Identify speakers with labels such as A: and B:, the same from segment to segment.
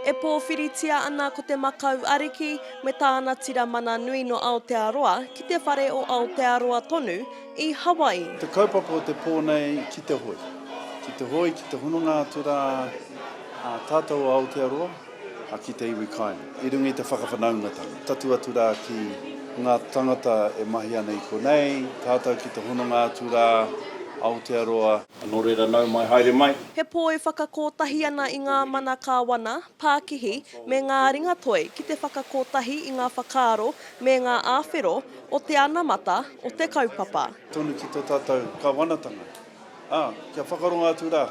A: E
B: pōwhiritia ana ko te makau ariki me tāna tira mana nui nō Aotearoa ki te whare o Aotearoa tonu i Hawaii. Te kaupapa o te
C: pō nei ki te hoe, ki te hoe, ki te hononga atu rā ā tātou o Aotearoa. A ki te iwi kai. I runga i te whakawhanaungatanga. Tatū atu rā ki ngā tangata e mahi ana i konei, tātau ki te hononga atu rā, Aotearoa. Anō reira nau mai, haere mai. He poi whakakotahi
B: ana i ngā mana kāwana, pākihi, me ngā ringatoi ki te whakakotahi i ngā whakaaro me ngā āwhero o te anamata o te kaupapa. Tonu ki tō tātau
C: Kawanatanga. Ā, kia whakarongo atu rā,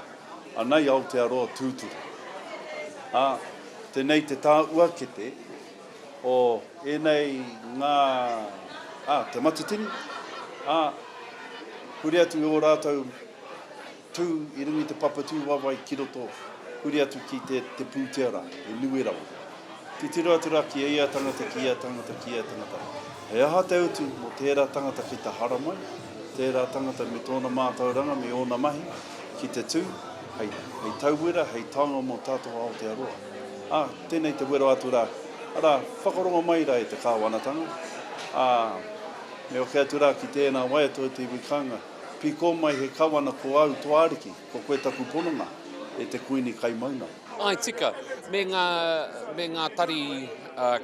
C: anei Aotearoa tūturu. Ā, tenei te tāuakete o ēnei ngā, ā, te matatini, ā, huri atu i ō rātou tū i runga i te papatū waewae ki roto, huri atu ki te, te pūtea rā, he nui rawa. Titiro atu rā ki ia tangata, ki ia tangata, ki ia tangata, He aha te utu mō tērā tangata ki te haramai? tērā tangata me tōna mātauranga me ōna mahi ki te tū hei tauwera, hei taonga mō tātou Aotearoa. Ā, tēnei te wero atu rā, arā, whakarongo mai rā e te Kāwanatanga, ā, me oke atu rā ki tēnā wai atu o te iwi kānga, pīkō mai he Kawana ko au tō Ariki. Ko koe taku pononga, e te Kuini kai maunga. Ai tika,
A: me ngā, me ngā tari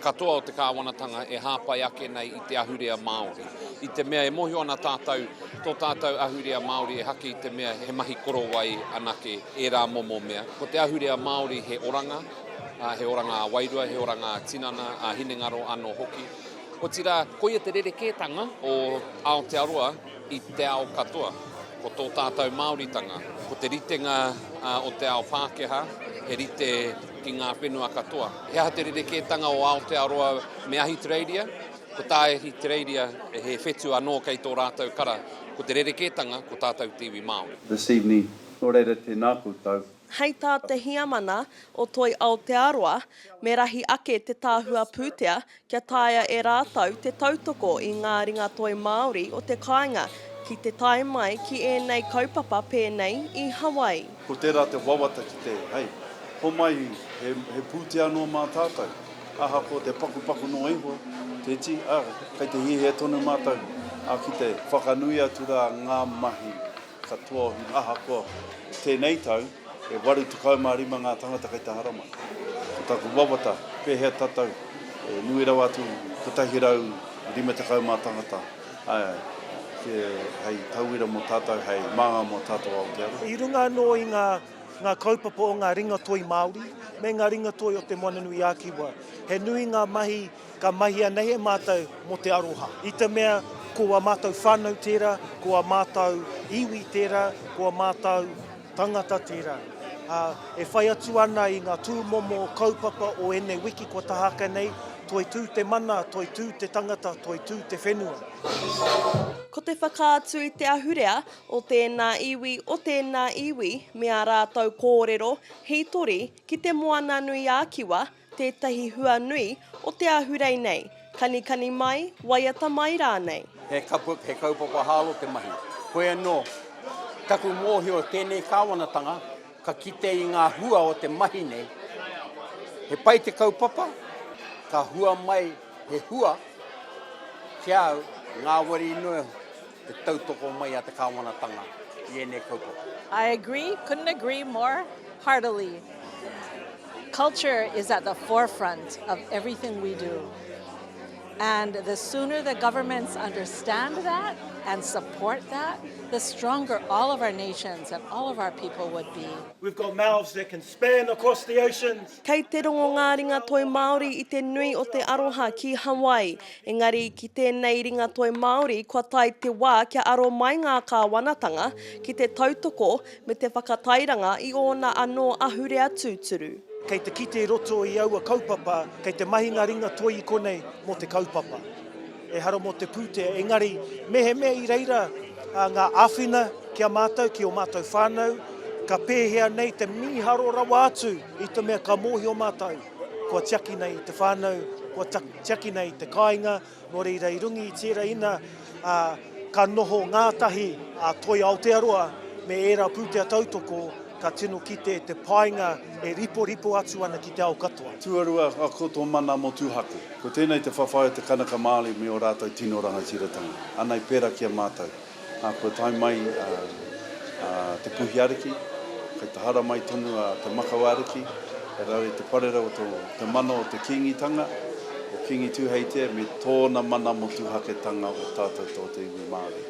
A: katoa o te Kāwanatanga e hāpai ake nei i te ahurea Māori. I te mea e mōhio ana tātou, tō tātou ahurea Māori e haki i te mea he mahi korowai anake ērā momo mea. Ko te ahurea Māori he oranga, he oranga ā-wairua, he oranga ā-tinana, ā-hinengaro anō hoki. Otirā, koia te rerekētanga o Aotearoa. i te ao katoa. Ko tō tātou Māoritanga, ko te ritenga o te ao Pākehā, he rite ki ngā whenua katoa. He aha te rerekētanga o Aotearoa me Ahitereiria? Ko tā Ahitereiria, he whetu anō kei tō rātou kara. Ko te rerekētanga, ko tātou te iwi Māori. This evening, nō
C: reira tēnā koutou. Hei tā te
B: Heamana o Toi Aotearoa, me rahi ake te Tāhua Pūtea kia taea e rātou te tautoko i ngā ringatoi Māori o te kāinga ki te tae mai ki ēnei kaupapa pēnei i Hawaii. Ko tērā te
C: wawata ki te, hei, homai he, he pūtea noa mā tātou, ahakoa te pakupaku noa iho, te ti, ā, kei te hiahia tonu mātou, ā, ki te whakanui atu rā ngā mahi katoa ahakoa tēnei tau, E waru tekau ma rima nga tangata kei te Haramai. Ko taku wawata, pehea tatou e nui rawa atu i kotahi rau rima tekau ma tangata, ae ae, te, hei tauira mo tatou, hei manga mo tatou Aotearoa. I runga ano i nga,
D: nga kaupapa o nga ringatoi Maori me nga ringatoi o te Moana-nui-a-Kiwa, he nui nga mahi ka mahia nei e matou mo te aroha. I te mea, ko a matou whanau tera, ko a matou iwi tera, ko a matou. Tangata tērā, ā, e whai atu ana i ngā tūmomo kaupapa o ēnei wiki kua taha ake nei, Toitū te mana, toitū te tangata, toitū te whenua.
B: Ko te whakaatu i te ahurea o tēnā iwi, o tēnā iwi me ā rātou kōrero, hītori ki te Moana-nui-ā-Kiwa, Tētahi hua nui o te ahurei nei, kanikani mai, waiata mai rānei. He kaput, he
E: kaupapa hālo te mahi. Koe anō. Taku mōhio i tēnei kāwanatanga, ka kite i ngā hua o te mahi nei. He pai te kaupapa, ka hua mai he hua ki a au, ngāwari noa iho. Te tautoko mai a te Kāwanatanga i ēnei kaupapa. I agree,
F: couldn't agree more heartily. Culture is at the forefront of everything we do and the sooner the governments understand that and support that, the stronger all of our nations and all of our people would be. We've got mouths that
D: can span across the oceans. Kei te rongo ngā
B: ringa toi Māori i te nui o te aroha ki Hawaii. Engari, ki tēnei ringatoi Māori kua tae te wā kia aro mai ngā kāwanatanga ki te tautoko me te whakatairanga i ōna anō ahurea tūturu. Kei te kite i
D: roto i aua kaupapa, kei te mahi ngā ringatoi i konei mō te kaupapa. Ehara mō te pūtea, engari, mehemea i reira ngā āwhina ki a mātou, ki ō mātou whānau, ka pēhea nei te mīharo rawa atu i te mea ka mōhio mātou. Kua tiakina i te whānau, kua tiakina i te kāinga, nō reira i runga i tērā ina ka noho ngātahi a Toi Aotearoa me ērā pūtea tautoko ka tino kite te painga e riporipo atu ana ki te ao katoa. Tuarua, ako tō
C: mana motuhake. Ko tēnei te whawhai o te Kanaka Māori me ō rātou tino rangatiratanga. Anei pērā ki a mātou. Ā, kua tae mai a Te Puhiariki, kei te hara mai tonu a Te Makawariki, he rawe te parera o te mana o te Kīngitanga, o Kīngi Tūheitia me tōna mana motuhaketanga o tātou tō te iwi Māori.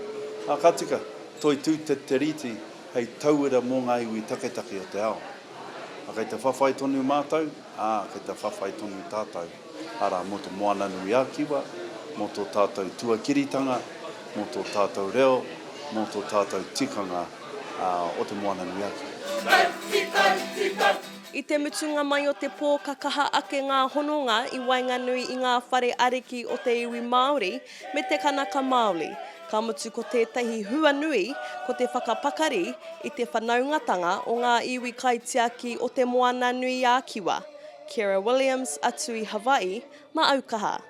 C: Ā, ka tika, Toitū te te rīti hei tauira mō ngā iwi taketake o te ao. Ā, kei te whawhai tonu mātou, ā, kei te whawhai tonu tātou. arā, mō Te Moananui-a-Kiwa, mō tō tātou tuakiritanga, mō tō tātou reo, mō tō tātou tikanga o Te Moananui-a-Kiwa. I te
B: mutunga mai o te pō ka kaha ake ngā hononga i waenganui i ngā whare ariki o te iwi Māori me te Kanaka Māori, ka mutu ko tētahi hua nui ko te whakapakari i te whanaungatanga o ngā iwi kaitiaki o Te Moananui-a-Kiwa Kira Williams atu i Hawaii ma au kaha.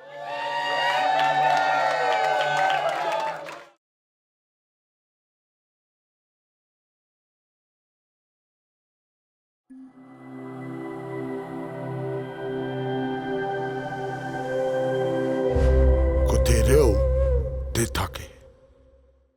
G: Ko te reo te take.